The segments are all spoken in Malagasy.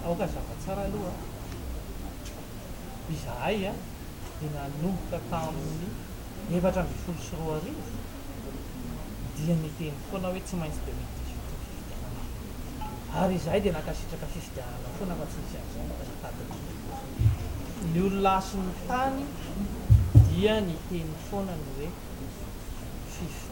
Aoka hazava tsara aloha, izahay dia nanomboka tamin'ny efatra ambin'ny folo sy roa arivo dia niteny foana hoe tsy maintsy dia misy dix-huit ny fifidianana ary izahay dia nankasitraka fifidianana foana fa tsy nisy an'izany ny azafady indrindra. Ny olona sy ny tany dia niteny foana ny hoe fifi.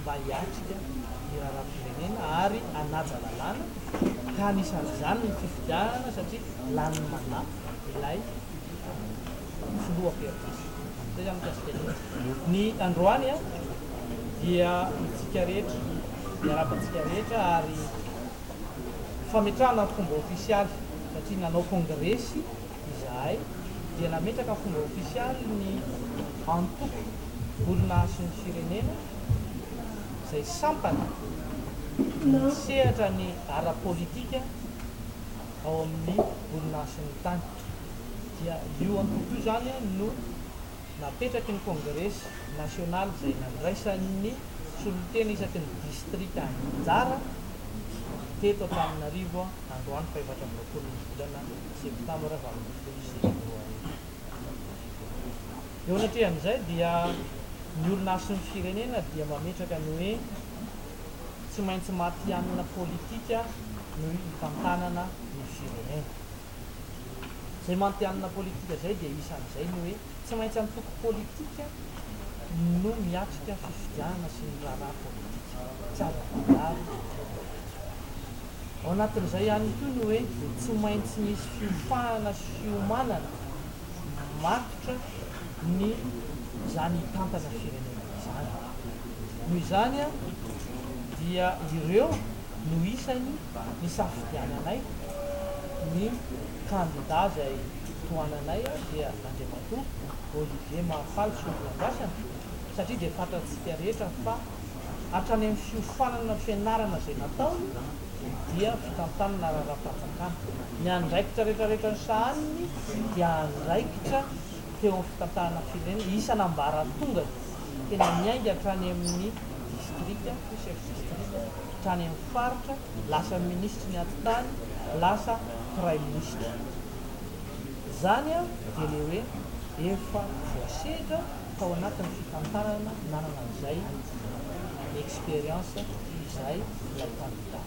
mba hiatrika ny raharaham-pirenena ary hanaja lalàna, ka anisan'izany ny fifidianana satria lanin'ny mandat ilay filoha perdis. Izay izany mikasika ny hetsika. Ny androany dia isika rehetra, miarahaba antsika rehetra ary fametrahana ny fomba ofisialy satria nanao kongresy, izahay dia nametraka fomba ofisialy ny antoko Orinasin'ny Firenena izay sampana misehatra ny ara-politika ao amin'ny orinasin'ny tany. Dia io antoko io izany no napetraky ny kongresy nasionaly izay nandraisan'ny solontena isaky ny distrika anjara teto Antananarivo androany fahefatra amby roapolo ny volana Eo anatrehan'izay dia ny olona sy ny firenena dia mametraka ny hoe tsy maintsy matihanina politika no hitantanana ny firenena. Izay matihanina politika izay dia isan'izay ny hoe tsy maintsy antoko politika no miatrika fifidianana sy ny raharaha politika. Tsy azo manjary ny antoko politika. Ao anatin'izay ihany koa ny hoe tsy maintsy misy fiofahana sy fiomanana matotra ny izany hitantana firenena izany. Noho izany dia ireo no isany nisafidiananay ny kandida izay tohananay dia Andriamatoa Olivier Mahafaly Solondradrasana satria dia fantatsika rehetra fa hatrany amin'ny fiofanana fianarana izay nataony dia fitantanana ara-raha-panjakana. Ny andraikitra rehetrarehetra nisahaniny dia andraikitra teo amin'ny fitantanana firenena isan'ambaratongany, tena niainga hatrany amin'ny distrika, chef district, hatrany amin'ny faritra, lasa minisitry ny atitany, lasa praiminisitra. Izany dia ilay hoe efa voasedra. tao anatin'ny fitantanana nanana an'izay expérience izay ilay candidat.